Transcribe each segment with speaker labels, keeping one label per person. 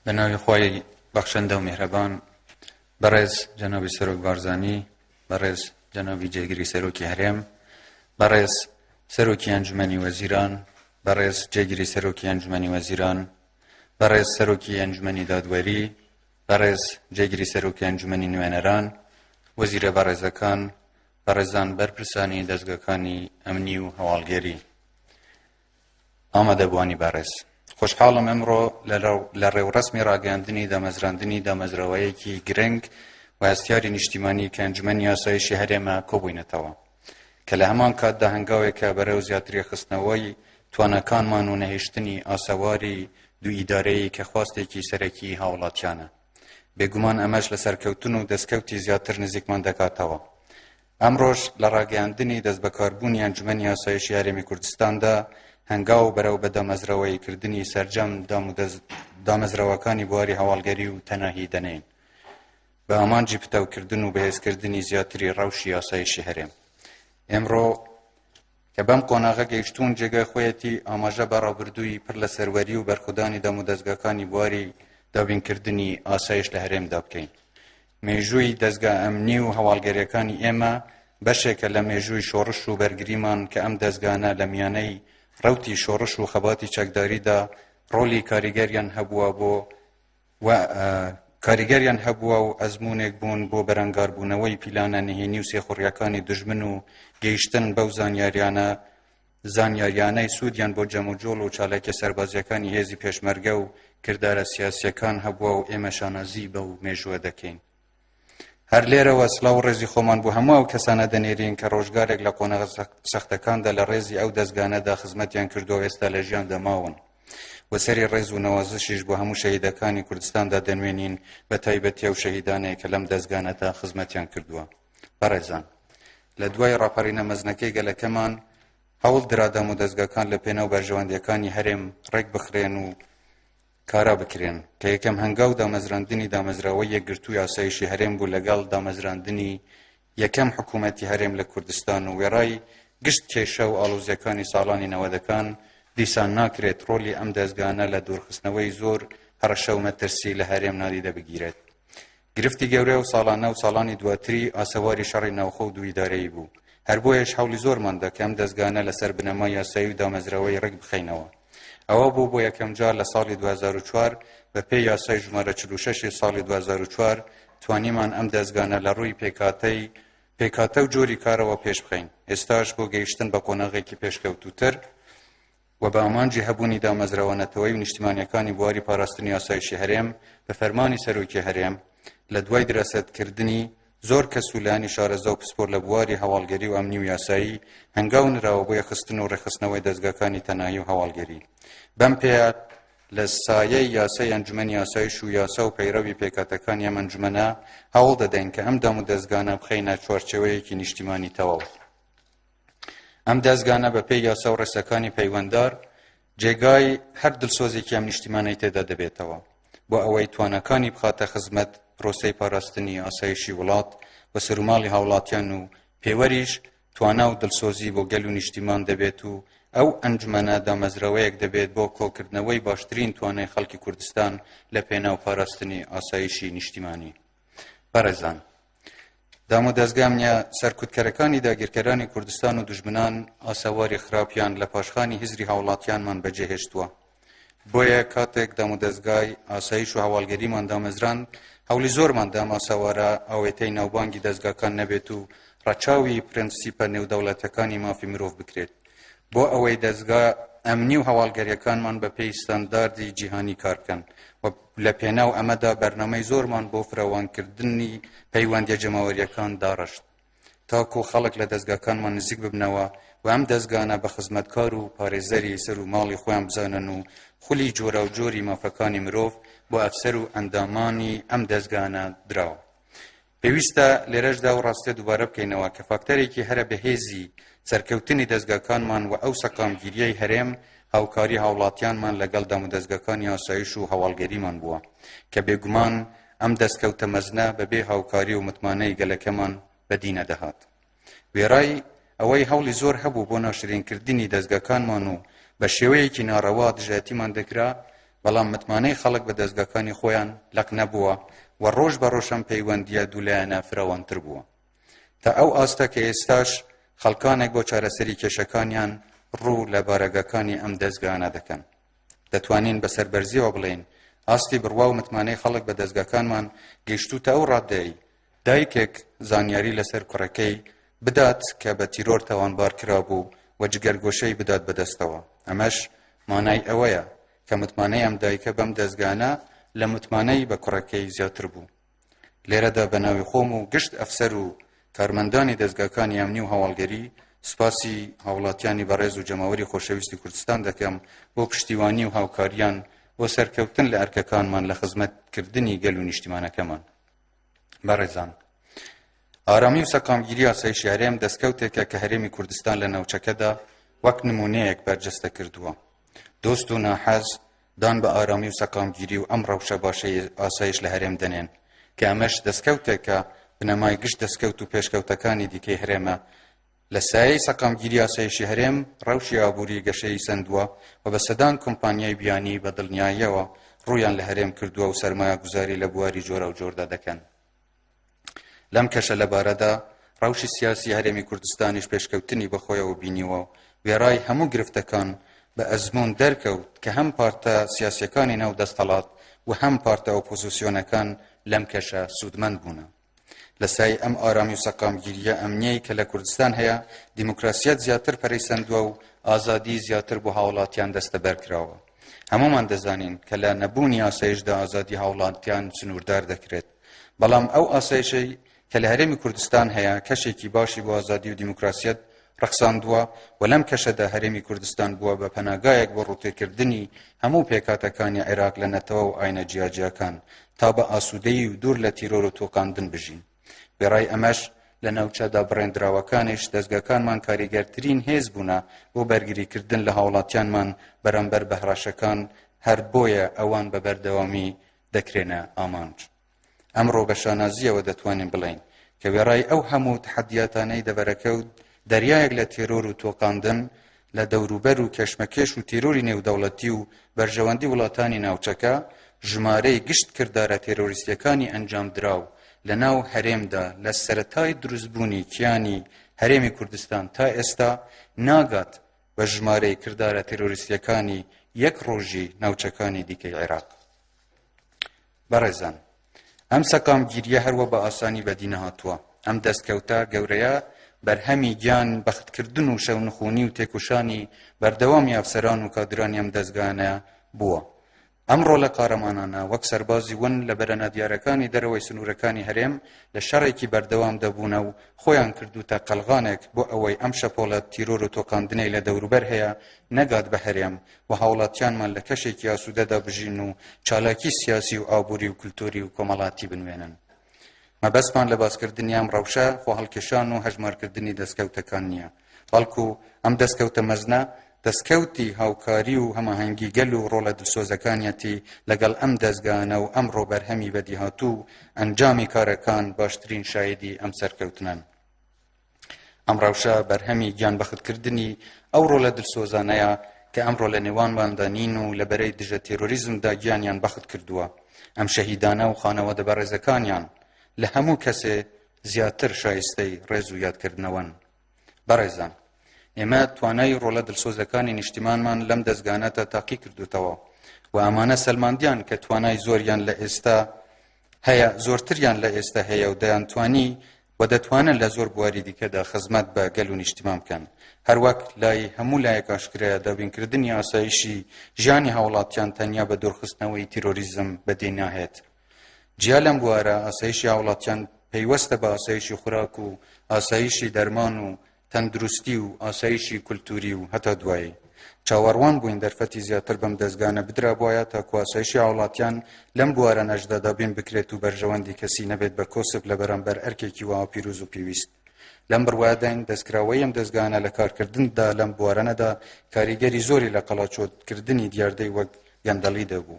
Speaker 1: بە ناوی خۆی بەخشندە و میهرەبان بەڕێز جەنابی سەرۆک بارزانی بەڕێز جەنابی جێگری سەرۆکی هەرێم بەڕێز سەرۆکی ئەنجومەنی وەزیران بەڕێز جێگری سەرۆکی ئەنجومەنی وەزیران بەڕێز سەرۆکی ئەنجومەنی دادوەری بەڕێز جێگری سەرۆکی ئەنجومەنی نوێنەران وەزیرە بەڕێزەکان بەڕێزان بەرپرسانی دەستگەکانی ئەمنی و هەواڵگەری ئامادەبووانی بەڕێز، خۆشحاڵم ئەمڕۆ لە ڕێوڕەسمی ڕاگەیاندنی دامەزراندنی دامەزراوەیەکی گرنگ و هەستیاری نیشتیمانی کە ئەنجومەنی ئاسایشی هەرێمە کۆبووینەتەوە کە لە هەمان کاتدا هەنگاوێکە بەرەو زیاترێخستنەوەی تواناکانمان و نەهێشتنی ئاسەواری دوو ئیدارەیی کە خواستێکی سەرەکی هاوڵاتیانە بێگومان ئەمەش لە سەرکەوتن و دەستکەوتی زیاتر نزیکمان دەکاتەوە ئەمڕۆش لە ڕاگەیاندنی دەستبەکاربوونی ئەنجومەنی ئاسایشی هەرێمی کوردستاندا هەنگاو بەرەو بە دامەزراوەیی کردنی سەرجەم دامەزراوەکانی بواری هەواڵگەری و تەناهی دەنێین بە ئامانجی پتەوکردن و بەهێزکردنی زیاتری ڕەوشی ئاسایشی هەرێم ئێمڕۆ کە بەم قۆناغە گەیشتوون جێگای خۆیەتی ئاماژە بە ڕابردووی پڕ لە سەروەری و بەرخودانی دامودەزگاکانی بواری دابینکردنی ئاسایش لە هەرێمدا بکەین. مێژووی دەزگا ئەمنی و هەواڵگەریەکانی ئێمە بەشێکە لە مێژووی شۆڕش و بەرگریمان کە ئەم دەزگانە لە میانەی ڕەوتی شۆڕش و خەباتی چەکداریدا ڕۆلی کاریگەریان هەبووە بۆ و کاریگەریان هەبووە و ئەزموونێک بوون بۆ بەرەنگاربوونەوەی پیلانە نهێنی و سێخوڕیەکانی دژمن و گەیشتن بەو زانیاریانە زانیاریانەی سوودیان بۆ جەموجۆڵ و چالاکیە سەربازیەکانی هێزی پێشمەرگە و کردارە سیاسیەکان هەبووە و ئێمە شانازی بەو مێژووە دەکەین. هەر لێرەوە سڵاو و ڕێزی خۆمان بۆ هەموو ئەو کەسانە دەنێرین کە ڕۆژگارێک لە قۆنەغە سەختەکاندا لە ڕێزی ئەو دەستگانەدا خزمەتیان کردو ئێستا لە ژیان دەماون و سەری ڕێز و نەوازشیش بۆ هەموو شەهیدەکانی کوردستاندا دەنوێنین بە تایبەتی و شەهیدانەیە کە لەم دەستگانەدا خزمەتیان کردووە بەڕێزان لە دوای ڕاپەڕینە مەزنەکەی گەلەکەمان هەوڵ درادام و دەستگاکان لە پێناو بەرژەوەندیەکانی هەرێم ڕێک بخرێن و کارا بکرێن، کە یەکەم هەنگاو دامەزراندنی دامەزراوەی یەکگرتووی ئاسایشی هەرێم بوو لەگەڵ دامەزراندنی یەکەم حکوومەتی هەرێم لە کوردستان و وێڕای گشت کێشە و ئاڵۆزییەکانی ساڵانی نەوەدەکان، دیسان ناکرێت ڕۆلی ئەم دەزگانە لە دوورخستنەوەی زۆر هەڕەشە و مەترسی لە هەرێم نادیدە بگیرێت. گرفتی گەورە ئەو ساڵانە و ساڵانی دواتری ئاسەواری شەڕی ناوخۆ و دوو ئیدارەیی بوو، هەر بۆیەش هەوڵی زۆرمان دا کە ئەم دەزگانە لەسەر بنەمای یاسایی و دامەزراوەیی ڕێک بخەینەوە. ئەوە بوو بۆ یەکەم جار لە ساڵی دوو هەزار و چوار بە پێی یاسای ژمارە چل و شەش ی ساڵی دوو هەزار و چوار توانیمان ئەم دەزگانە لە ڕووی پێکهاتەی پێکهاتە و جۆری کارەوە پێش بخەین، ئێستاش بۆ گەیشتن بە قۆناغێکی پێشکەوتووتر، و بە ئامانجی هەبوونی دامەزراوە نەتەوەیی و نیشتیمانیەکانی بواری پاراستنی ئاسایشی هەرێم بە فەرمانی سەرۆکی هەرێم لە دوای دراسەت کردنی زۆر کەس و لایەنی شارەزا و پسپۆر لە بواری هەواڵگەری و ئەمنی و یاسایی هەنگاو نراوە بۆ یەخستن و ڕێخستنەوەی دەزگاکانی تەناهی و هەواڵگەری بەم پێیە لە سایەی یاسای ئەنجومەنی ئاسایش و یاسا و پەیڕەوی پێکاتەکانی ئەم ئەنجومەنە هەوڵ دەدەین کە ئەم دام و دەزگانە بخەینە چوارچێوەیەکی نیشتیمانی تەواو ئەم دەزگانە بە پێی یاسا و ڕێساکانی پەیوەندار جێگای هەر دڵسۆزێکی ئەم نیشتیمانەی تێدا دەبێتەوە بۆ ئەوەی توانەکانی بخاتە خزمەت پرۆسەی پاراستنی ئاسایشی وڵات و سەروماڵی هاوڵاتیان و پێوەریش توانا و دڵسۆزی بۆ گەل و نیشتیمان دەبێت و ئەو ئەنجومەنە دامەزراوەیەک دەبێت بۆ کۆکردنەوەی باشترین توانای خەڵکی کوردستان لە پێناو پاراستنی ئاسایشی نیشتیمانی بەڕێزان، دامودەزگا نیە سەرکوتکەرەکانی داگیرکەرانی کوردستان و دوژمنان ئاسەواری خراپیان لە پاشخانی هزری هاوڵاتیانمان بەجێهێشتووە. بۆیە کاتێک دامودەزگای ئاسایش و هەواڵگەریمان دامەزراند، هەوڵی زۆرمان دام ئاسەوارە ئاوێتەی ناوبانگی دەزگاکان نەبێت و ڕەچاوی پرەنسیپە نێودەوڵەتەکانی مافی مرۆڤ بکرێت بۆ ئەوەی دەزگا ئەمنی و هەواڵگەریەکانمان بەپێی ستانداردی جیهانی کار بکەن و لە پێناو ئەمەدا بەرنامەی زۆرمان بۆ فراوانکردنی پەیوەندیە جەماوەریەکان داڕشت تاکو خەڵک لە دەزگاکانمان نزیک ببنەوە و ئەم دەزگانە بە خزمەتکار و پارێزەری سەر و ماڵی خۆیان بزانن و خولی جۆراوجۆری مافەکانی مرۆڤ بۆ ئەفسەر و ئەندامانی ئەم دەزگانە دراوە. پێویستە لێرەشدا ئەو ڕاستیە دووبارە بکەینەوە کە فاکتەرێکی هەرە بەهێزی سەرکەوتنی دەزگاکانمان و ئەو سەقامگیریەی هەرێم هاوکاری هاوڵاتیانمان لەگەڵ دامودەزگاکانی ئاسایش و هەواڵگەریمان بووە کە بێگومان ئەم دەستکەوتە مەزنە بەبێ هاوکاری و متمانەی گەلەکەمان بەدی نەدەهات. وێڕای ئەوەی هەوڵی زۆر هەبوو بۆ ناشرینکردنی دەستگاکانمان و بە شێوەیەکی ناڕەوا دژایەتیمان دەکرا بەڵام متمانەی خەڵک بە دەستگاکانی خۆیان لەق نەبووە و ڕۆژ بە ڕۆژەم پەیوەندیە دوولایەنە فراوانتر بووە تا ئەو ئاستە کە ئێستاش خەڵکانێک بۆ چارەسەری کێشەکانیان ڕوو لە بارەگەکانی ئەم دەستگانە دەکەن دەتوانین بە سەربەرزیەوە بڵێین ئاستی بڕوا و متمانەی خەڵک بە دەستگاکانمان گەیشتوتە ئەو ڕاددەی دایکێک زانیاری لەسەر کوڕەکەی بدات کە بە تیرۆر تاوانبار کرابوو و جگەرگۆشەی بدات بەدەستەوە، ئەمەش مانای ئەوەیە کە متمانەی ئەم دایکە بەم دەزگانە لە متمانەی بە کوڕەکەی زیاتر بوو. لێرەدا بە ناوی خۆم و گشت ئەفسەر و کارمەندانی دەزگاکانی ئەمنی و هەواڵگەری سوپاسی هاوڵاتیانی بەڕێز و جەماوەری خۆشەویستی کوردستان دەکەم بۆ پشتیوانی و هاوکاریان بۆ سەرکەوتن لە ئەرکەکانمان لە خزمەتکردنی گەل و نیشتیمانەکەمان. بەڕێزان ئارامی و سەکامگیری ئاسایشی هەرێم دەستکەوتێکە کە هەرێمی کوردستان لە ناوچەکەدا وەک نمونەیەک بەرجەستە کردووە دۆست و ناحەز دان بە ئارامی و سەکامگیری و ئەم ڕەوشە باشەی ئاسایش لە هەرێم دەنێن کە ئەمەش دەستکەوتێکە بنەمای گشت دەستکەوت و پێشکەوتەکانی دیکەی هەرێمە لە سایەی سەقامگیری ئاسایشی هەرێم، ڕەوشی ئابووری گەشەی سەندووە و بە سەدان کۆمپانیای بیانی بە دڵنیاییەوە ڕوویان لە هەرێم کردووە و سەرمایەگوزاری لە بواری جۆراوجۆردا دەکەن. لەم کەشە لەبارەدا، ڕەوشی سیاسی هەرێمی کوردستانیش پێشکەوتنی بەخۆیەوە بینیوە و وێڕای هەموو گرفتەکان بە ئەزموون دەرکەوت کە هەم پارتە سیاسییەکانی ناو دەستەڵات و هەم پارتە ئۆپۆزیسیۆنەکان لەم کەشە سوودمەند بوونە. لە سای ئەم ئارامی و سەقامگیریە ئەمنیەی کە لە کوردستان هەیە دیموکراسیەت زیاتر پەرەی سەندووە و ئازادی زیاتر بۆ هاوڵاتیان دەستەبەر کراوە هەمومان دەزانین کە لە نەبوونی ئاسایشدا ئازادی هاوڵاتیان سنووردار دەکرێت بەڵام ئەو ئاسایشەی کە لە هەرێمی کوردستان هەیە کەشێکی باشی بۆ ئازادی و دیموکراسیەت ڕەخساندووە و لەم کەشەدا هەرێمی کوردستان بووە بە پەناگایەک بۆ ڕووتێکردنی هەموو پێکهاتەکانی عێراق لە نەتەوە و ئاینە جیاجیاکان تا بە ئاسوودەیی و دوور لە تیرۆر و تۆقاندن بژین وێڕای ئەمەش لە ناوچەدا بڕێندراوەکانیش دەستگاکانمان کاریگەرترین هێز بوونە بۆ بەرگریکردن لە هاوڵاتیانمان بەرامبەر بە هەڕەشەکان هەر بۆیە ئەوان بە بەردەوامی دەکرێنە ئامانج. ئەمڕۆ بە شانازییەوە دەتوانین بڵێین کە وێڕای ئەو هەموو تەحەدیاتانەی دەڤەرەکە و دەریایەک لە تێرۆر و تۆقاندن لە دەوروبەر و کێشمەکێش و تێرۆری نێودەوڵەتی و بەرژەوەندی وڵاتانی ناوچەکە ژمارەی گشت کردارە تێرۆریستیەکانی ئەنجامدراو لەناو هەرێمدا لە سەرەتای دروستبوونی کیانی هەرێمی کوردستان تا ئێستا ناگات بە ژمارەی کردارە تێرۆریستیەکانی یەک ڕۆژی ناوچەکانی دیکەی عێراق بەڕێزان ئەم سەقامگیریە هەر وە بە ئاسانی بەدی نەهاتووە، ئەم دەستکەوتە گەورەیە بەرهەمی گیان بەختکردن و شەونخونی و تێکوشانی بەردەوامی ئەفسەران و کادرانی ئەم دەزگایانە بووە. ئەم ڕۆلە قارەمانانە وەک سەربازی ون لە بەرە نادیارەکانی دەرەوەی سنوورەکانی هەرێم لە شەڕێکی بەردەوام دەبوونە و خۆیان کردوتە قەلغانێک بۆ ئەوەی ئەم شەپۆڵە تیرۆر و تۆقاندنەی لە دەوروبەر هەیە نەگات بە هەرێم و هاوڵاتیانمان لە کەشێکی ئاسوودەدا بژین و چالاکی سیاسی و ئابووری و کلتوری و کۆمەڵاتی بنوێنن. مەبەستمان لە باسکردنی ئەم ڕەوشە خۆ هەڵکێشان و هەژمارکردنی دەستکەوتەکان نییە بەڵکو ئەم دەستکەوتە مەزنە دەستکەوتی هاوکاری و هەماهەنگی گەل و ڕۆڵە دلسۆزەکانیەتی لەگەڵ ئەم دەستگانە و ئەم ڕۆبەرهەمی بەدیهاتوو ئەنجامی کارەکان باشترین شایدی ئەم سەرکەوتنن. ئەم ڕەوشە بەرهەمی گیانبەختکردنی ئەو ڕۆلە دلسۆزانەیە کە ئەمڕۆ لە نێوانماندا نین و لە بەرەی دژە تێرۆریزمدا گیانیان بەخت کردووە ئەم شەهیدانە و خانەوادە بەڕێزەکانیان لە هەموو کەسێ زیاتر شایستەی ڕێز و یادکردنەوەن بەڕێزان ئێمە توانای ڕۆلە دلسۆزەکانی نیشتیمانمان لەم دەستگانەتە تاقی کردوتەوە و ئەمانە سەلماندیان کە توانای زۆریان لە ئێستا هەیە زۆرتریان لە ئێستە هەیە و دەیانتوانی و دەتوانن لە زۆر بواری دیکەدا خزمەت بە گەل و نیشتیمان بکەن هەروەک لای هەموو لایەک ئاشکرایە دابینکردنی ئاسایشی ژیانی هاوڵاتیان تەنیا بە دورخستنەوەی تیرۆریزم بەدی ناهێت جیا لەم بوارە ئاسایشی هاوڵاتیان پەیوەستە بە ئاسایشی خوراک و ئاسایشی دەرمان و تەندروستی و ئاسایشی کولتووری و هەتا دوایی. چاوەڕوان بووین دەرفەتی زیاتر بەم دەزگانە بدرابوایە تاکو ئاسایشی هاوڵاتیان لەم بوارە نەشدا دابین بکرێت و بەرژەوەندی کەسی نەبێت بە کۆسپ لە بەرامبەر ئەرکێکی وەها پیروز و پیویست. لەم بڕوایەداین دەستکراوەی ئەم دەزگانە لە کارکردندا لەم بوارەنەدا کاریگەری زۆری لە قەڵاچۆکردنی دیاردەی وەک گەندەڵی دەبوو.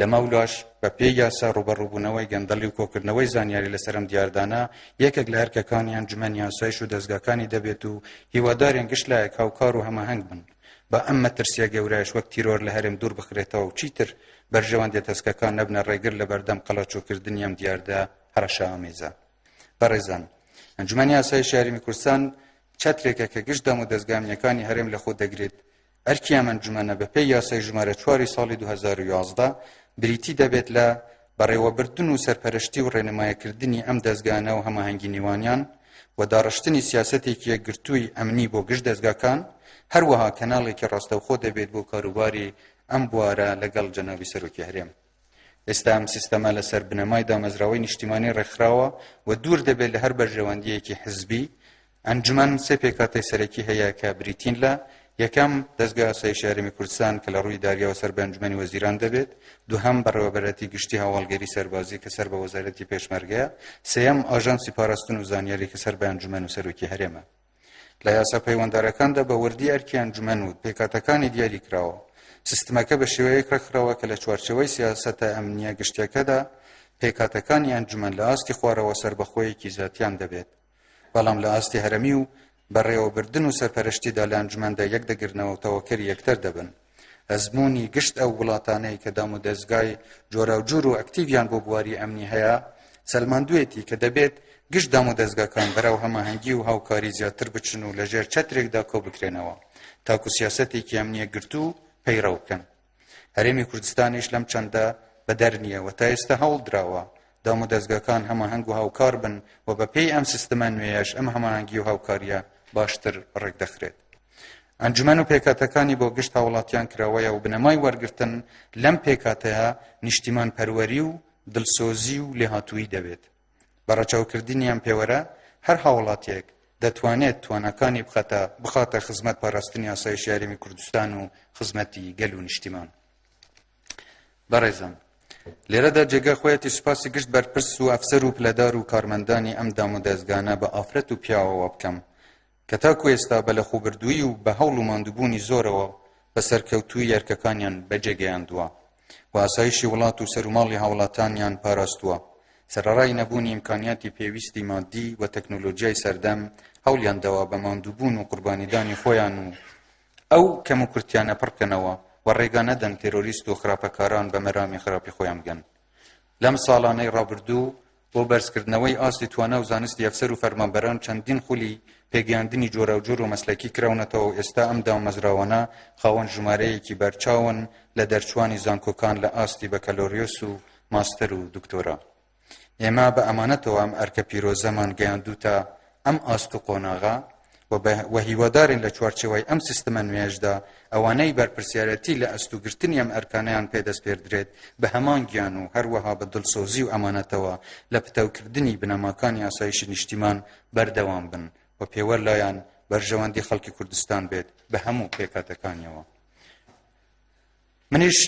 Speaker 1: لەمەولاش بە پێی یاسا ڕوبەڕوبونەوەی گەندەڵی و کۆکردنەوەی زانیاری لەسەر ئەم دیاردانە یەکێک لە ئەرکەکانی ئەنجومەنی یاسایش و دەزگاکانی دەبێت و هیوادارین گشت لایەک هاوکار و هەماهەنگ بن با ئەم مەترسیە گەورایش وەک تیرۆر لە هەرێم دوور بخرێتەوە و چیتر بەرژەوەندیە تەسکەکان نەبنە ڕێگر لە بەردەم قەڵەچوکردنی ئەم دیاردە هەڕەشە ئامێزە بەڕێزان ئەنجومەنی یاسای شاری کوردستان چەترێکە کە گشت دەم و دەستگامیەکانی هەرێم لە خۆ دەگرێت ئەرکی ئەم ئەنجومەنە بەپێی یاسای ژمارە چوار ی ساڵی دوو هەزار و یازدە بریتی دەبێت لە بەڕێوەبردن و سەرپەرشتی و ڕێنمایەکردنی ئەم دەزگانە و هەماهەنگی نێوانیان و داڕشتنی سیاسەتێکی یەکگرتووی ئەمنی بۆ گشت دەزگاکان هەروەها کەناڵێکی ڕاستەوخۆ دەبێت بۆ کاروباری ئەم بوارە لەگەڵ جەنابی سەرۆکی هەرێم. ئێستا ئەم سیستەمە لەسەر بنەمای دامەزراوەی نیشتیمانی ڕێکخراوە و دوور دەبێت لە هەر بەرژەوەندیەکی حزبی ئەنجومەن سێ پێکاتەی سەرەکی هەیە کە بریتین لە یەکەم دەستگا سای شارمی کوردستان کە لە ڕووی داریەوە سەر بەنجمەنی وەزیران دەبێت دوهەم بەڕێوەبەرەتی گشتی هەواڵگەری سەربازی کە سەر بە وەزارەتی پێشمەرگەیە سێەم ئاژانسی پاراستن و زانیاری کە سەر بەنجمەن و سەرۆکی هەرێمە لە یاسا پەیوەندارەکاندا بە وردی ئەرکی ئەنجومەن و پێکاتەکانی دیاری کراوە سیستمەکە بە شێوەیەک ڕێکخراوە کە لە چوارچەوەی سیاسەتە ئەمنیە گشتەکەدا پێکاتەکانی ئەنجومەن لە ئاستی خوارەوە سربەخۆیەکی زیاتیان دەبێت بەڵام لە ئاستی هەرمی و بەڕێوەبردن و سەرپەرشتیدا لە ئەنجومەندە یەک دەگرنەوە تەوەکەری یەکتر دەبن ئەزموونی گشت ئەو وڵاتانەی کە دام و دەستگای جۆراوجور و ئەکتیڤیان بۆ بواری ئەمنی هەیە سەلماندوێتی کە دەبێت گشت دام و دەستگاکان بەرەو هەماهەنگی و هاوکاری زیاتر بچن و لەژێر چەترێکدا کۆ بکرێنەوە تاکو سیاسەتێکی ئەمنیە گرتو و پەیڕەو بکەن هەرێمی کوردستانیش لەم چەندە بەدەر نییە و تا ئێستا هەوڵ دراوە دام و دەستگاکان هەماهەنگ و هاوکار بن و بەپێی ئەم سیستمە نوێیەش ئەم هەماهەنگی و هاوکاریە باشتر ڕێکدەخرێت ئەنجومەن و پێکاتەکانی بۆ گشت هاوڵاتیان کراوەیە و بنەمای وەرگتن لەم پێکاتەیە نیشتیمان پەروەری و دلسۆزی و لێهاتووی دەبێت بە ڕەچاوکردنیان پێوەرە هەر هاوڵاتیەک دەتوانێت توانەکانی بخەتە بخاتە خزمەت پاراستنی ئاسایش یاریمی کوردستان و خزمەتی گەل و نیشتیمان بەڕێزم لێرەدا جێگە خۆیەتی سوپاسی گشت بەرپرس و ئەفسەر و پلەدار و کارمەندانی ئەم دام و دەستگانە بە ئافرەت و پیاوەوە بکەم کە تاکو ئێستا بە لەخۆبردوویی و بە هەوڵ و ماندووبوونی زۆرەوە بە سەرکەوتوویی ئەرکەکانیان بەجێگەیاندووە و ئاسایشی وڵات و سەروماڵی هاوڵاتانیان پاراستووە، سەرەڕای نەبوونی ئیمکانیاتی پێویستی مادی و تەکنۆلۆجیای سەردەم، هەوڵیان داوە بە ماندووبوون و قوربانیدانی خۆیان و ئەو کەموکورتیانە پڕکەنەوە و ڕێگا نەدەن تێرۆریست و خراپەکاران بە مەرامی خراپی خۆیان بگەن لەم ساڵانەی ڕابردوو بۆ بەرزکردنەوەی ئاستی توانا و زانستی ئەفسەر و فەرمانبەران چەندین خولی پێگەیاندنی جۆراوجۆر و مەسلەکی کراونەتەوە و ئێستا ئەم دامەزراوانە خاوەن ژمارەیەکی بەرچاون لە دەرچوانی زانکۆکان لە ئاستی بەکەلۆریۆس و ماستەر و دکتۆرا ئێمە بە ئەمانەتەوە ئەم ئەرکە پیرۆزەمان گەیاندوتە ئەم ئاست و قۆناغە و بە و هیوادارین لە چوارچێوەی ئەم سیستمە نوێیەشدا ئەوانەی بەرپرسیارەتی لە ئەست و گرتنی ئەم ئەرکانەیان پێدەسپێردرێت بە هەمان گیان و هەروەها بە دڵسۆزی و ئەمانەتەوە لە پتەوکردنی بنەماکانی ئاسایشی نیشتیمان بەردەوام بن و پێوەر لایان بەرژەوەندی خەڵکی کوردستان بێت بە هەموو پێکاتەکانیەوە. منیش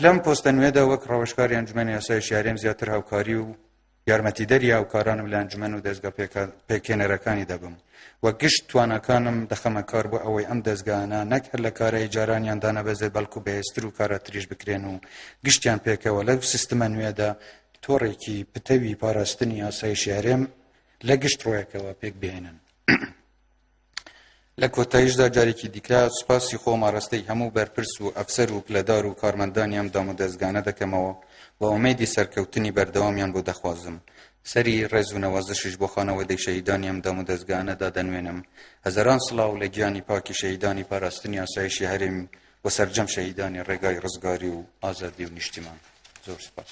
Speaker 1: لەم پۆستە نوێدا وەک ڕەوشکاری ئەنجومەنی ئاسایش یارێم زیاتر هاوکاری و یارمەتیدەری هاوکارانم لە ئەنجومەن و دەزگا پێکهێنەرەکانی دەبم و گشت تواناکانم دەخەمە کار بۆ ئەوەی ئەم دەزگانە نەک هەر لە کارایی جارانیان دانەبەزێت بەڵکو بەهێزتر و کاراتریش بکرێن و گشتیان پێکەوە لەو سیستمە نوێدا تۆڕێکی پتەوی پاراستنی ئاسایشی هەرێم لە گشت ڕۆیەکەوە پێک بهێنن. لە کۆتایشدا جارێکی دیکە سوپاسی خۆم ئاراستەی هەموو بەرپرس و ئەفسەر و پلەدار و کارمەندانی ئەم دام و دەستگانە دەکەمەوە و ئومێدی سەرکەوتنی بەردەوامیان بۆ دەخوازم سەری ڕێز و نەوازشیش بۆ خانەوەدەی شەهیدانی ئەم دام و دەستگانە دادەنوێنم هەزاران سڵاو لە گیانی پاکی شەهیدانی پاراستنی ئاسایشی هەرێم و سەرجەم شەهیدانی ڕێگای ڕزگاری و ئازادی و نیشتیمان زۆر سپاس.